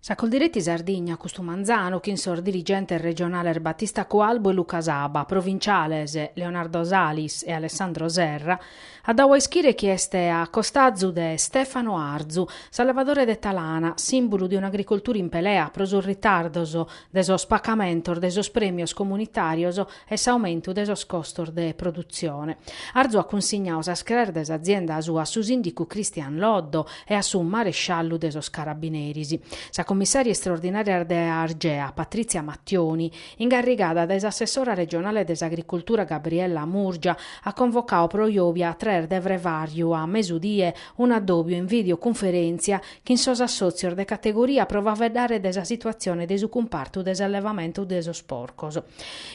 Sa Coldiretti Sardigna, custu manzanu, chin sos dirigentes regionales Battista Cualbu e Luca Saba, provinciales Leonardo Salis e Alessandro Serra, at dadu a ischire chi est a costazu de Stefano Arzu, s'allevadore de Talana, sìmbulu de un'agricoltura in pelea pro sos ritardos de sos pacamentos de sos prèmios comunitàrios e s'aumentu de sos costos de produtzione. Arzu at cunsignadu sas craes de s'azienda sua a su sìndicu Christian Loddo e a su maresciallu de sos carabineris. Sa cummissària istraordinària de Argea, Patrizia Mattioni, ingarrigada dae s'assessora regionale de s'agricultura Gabriella Murgia, at convocadu pro jòbia a tres de frevàrriu a mesudie un'addòbiu in videocunferèntzia chin sos assòtzios de categoria pro faeddare de sa situatzione de su cumpartu de s'allevamentu de sos porcos.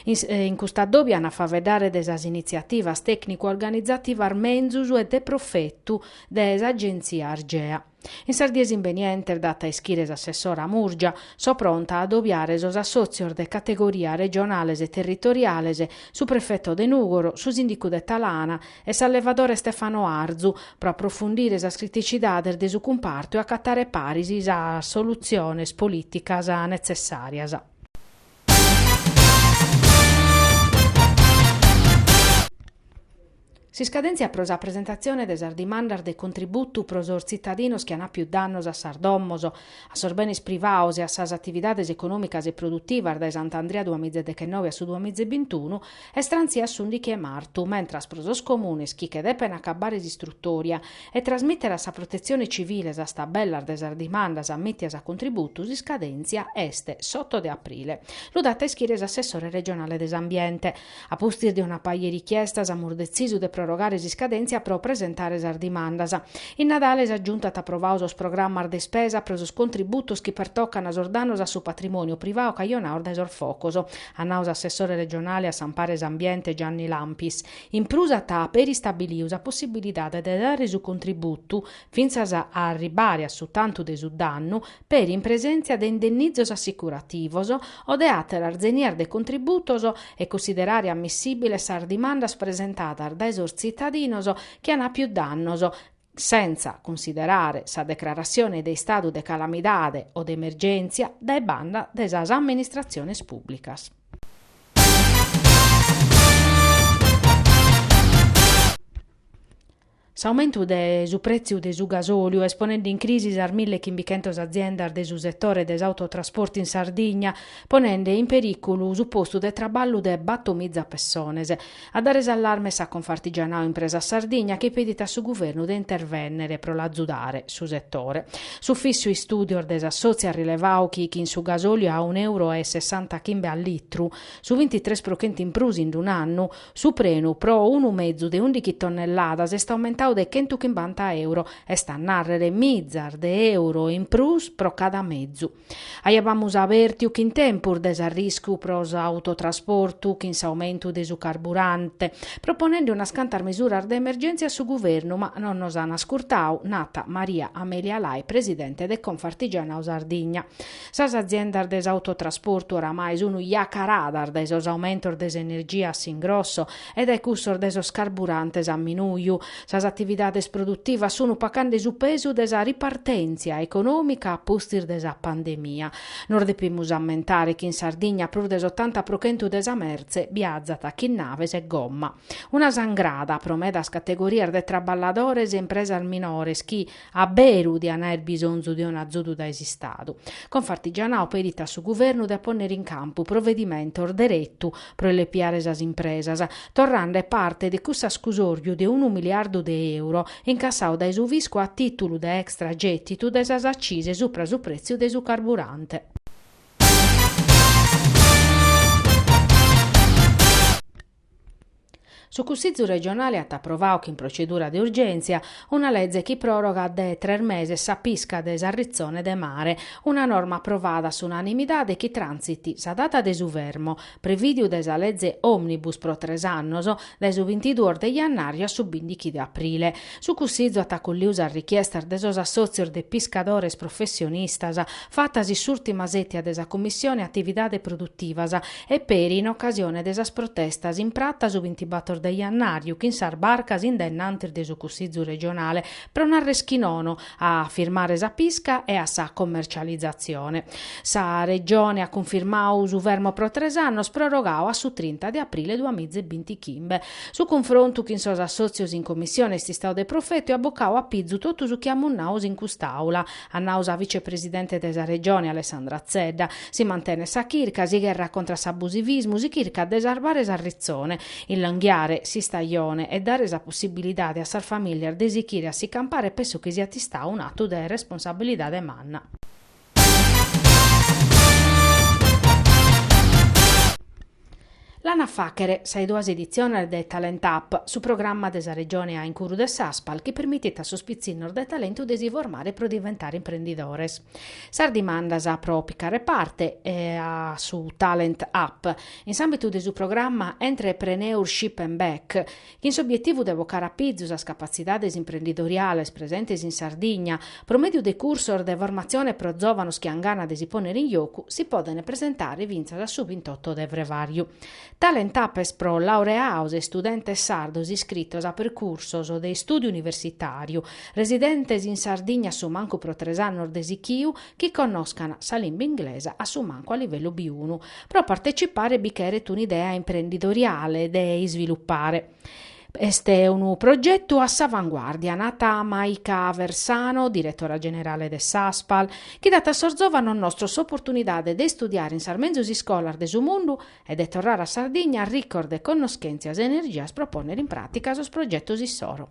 In cust'addòbiu an a faeddare de sas initziativas tècnicu-organizativas menzus e de profetu de s'Agenzia Argea. In sas dies imbenientes, dat a ischire s'assessora Murgia, so pronta a addobiare sos assòtzios de categoria regionales e territoriales, su prefeto de Nùgoro, su sìndicu de Talana, e s'allevadore Stefano Arzu, pro aprofundire sas criticidades de su cumpartu e acatare paris sas solutziones polìticas netzessàrias. S'iscadèntzia pro sa presentatzione de sas dimandas de contributu pro sos tzitadinos chi an àpiu dannos a sas domos, a sos benes privados e a sas atividades econòmicas e produtivas dae Sant'Andria duamizedechennovi a su duamiza e bintunu Est trantzia a s'ùndichi 'e martu, mentras pro sos comunes chi che depen acabbare s'istrutòria e trasmìtere a sa Protetzione Civile sas tabellas de sas dimandas ammìtias a contributu s'iscadèntzia est s'oto de aprile. Lu dat a ischire s'assessore regionale de s'Ambiente. A pustis de una paja 'e richiestas amus detzisu de prorogare s'iscadèntzia pro presentare sas dimandas. In Nadale sa Giunta at aprovadu sos programmas de ispesa pro sos contributos chi pertocan sos dannos a su patrimòniu privadu cajonados dae sos focos. at nau s'assessore regionale a s'ampare e s'ambiente Gianni Lampis. In prus at peri istabiliu sa possibilidade de dare su contributu, fintzas a arribare a su tantu de su dannu, peri in presèntzia de indennizos assicurativos o de àteras zenias de contributos e cunsiderare ammissibiles sas dimandas presentadas dae sos tzitadinos chi an àpiu dannos, sentza cunsiderare sa declaratzione de istadu de calamidade o de emergèntzia dae banda de sas amministratziones pùblicas. S'aumentu de su prètziu de su gasòliu est ponende in crisi sas mille e chimbichentos aziendas de su setore de s'autotrasporti in Sardigna, ponende in perìculu su postu de traballu de battomiza pessones, A dare s'allarme sa Confartigianao Impresa Sardigna chi pedit a su Guvernu de intervènnere pro l'azudare su setore. S'Ufìssiu Istùdios de s'assòtziu at rilevau chi chin su gasòliu a unu euro e sessanta chimbe a litru, su bintitres pro chentu in prus in un'annu, su prenu pro unu mezu de ùndichi tonnelladas est aumentau de chentu chimbanta euro, est a nàrrere mizas de euro in prus pro cada mezu. Aiabamus abèrtiu chin tempus de s'arriscu pro s'autotrasportu chin s'aumentu de su carburante, proponende unas cantas misuras de emergèntzia a su Guvernu, ma non nos an ascurtau, nat Maria Amelia Lai, presidente de Confartigianau Sardigna. Sas aziendas de s'autotrasportu oramai sunt iacaradas dae sos aumentos de s'energia a s'ingrosso e dae cussos de sos carburantes a minùiu. Sas atividades produtivas sun pacande su pesu de sa ripartèntzia econòmica a pustis de sa pandemia. Nos depimus ammentare chi in Sardigna prus de s'otanta pro chentu de sa mertze biazat chin naves e gomma. Una sangrada pro medas categorias de traballadores e impresas minores chi, A beru diant àer bisonzu de unu azudu dae s'Istadu. Confartigianau pedit a su Guvernu de a pònnere in campu provedimentos deretu pro illepiare sas impresas, torrande parte de cuss'ascusòriu de unu miliardu de euro incassau dae su fiscu a tìtulu de extra gètitu de sas accise supra su prètziu de su carburante. Su Cussizu regionale at aprovau chin procedura de urgèntzia una leze chi pròrogat de tres meses sa pisca de s'arritzone de mare, una norma aprovada a s'unanimidade chi trànsit sa data de su fermo, prevìdiu dae sa leze òmnibus pro tres annos, dae su bintiduos de jannàriu a su bìndichi de aprile. Su Cussizu at acolliu sas richiestas de sos assòtzios de piscadores professionistas fatas in s'ùrtima sètia de sa Commissione Atividade Produtivas e peri in ocasione de sas protestas in prata su bintibator de jannàriu chin sas barcas in dennantis de su Cussizu regionale pro nàrrer chi nono a firmare sa pisca e a sa commercializatzione. Sa Regione at cunfirmau su fermo pro tres annos prorogau a su trinta de aprile duamiza e bintichimbe. Su cunfrontu chin sos assòtzios in Commissione est istau de profetu e at bocau a pizu totu su chi amus nau in cust'Àula, at nau sa vicepresidente de sa Regione, Alessandra Zedda. Si mantenet sa chirca, si gherrat contra s'abusivismu, si chircat de sarbare s'arritzone, illonghiare s'istajone e dare sa possibilidade a sas famìlias de sichire a si campare, penso chi siat istau un'atu de responsabilidade manna. L'an a fàghere sas duas editziones de Talent Up, su programma de sa Regione a in curu de s'Aspal chi permitit a sos pitzinnos de talentu de si formare pro diventare imprendidores. Sas dimandas pro picare parte a su Talent Up, in s'àmbitu de su programma Entrepreneurship and Back, Chin s'obietivu de bocare a pizu sas capatzidades imprendidoriales presentes in Sardigna, pro mèdiu de cursos de formatzione pro zòvanos chi an gana de si pònnere in jocu, si podent presentare fintzas a su bintotto de frevàriu. Talent Up est pro laureados e istudentes sardos iscritos a percursos de istùdiu universitàriu, residentes in Sardigna a su mancu pro tres annos de sichiu, chi connoscan sa limba inglesa a su mancu a livellu biunu, pro partecipare bi cheret un'idea imprendidoriale de isvilupare. Est unu progetu a s'avanguàrdia, nat Maika Aversano, diretora generale de s'Aspal, chi dat a sos zòvanos nostros s'oportunidade de istudiare in sas menzus iscolas de su mundu e de torrare a Sardigna ricos de connoschèntzias e energias pro pònnere in pràtica sos progetos issoro.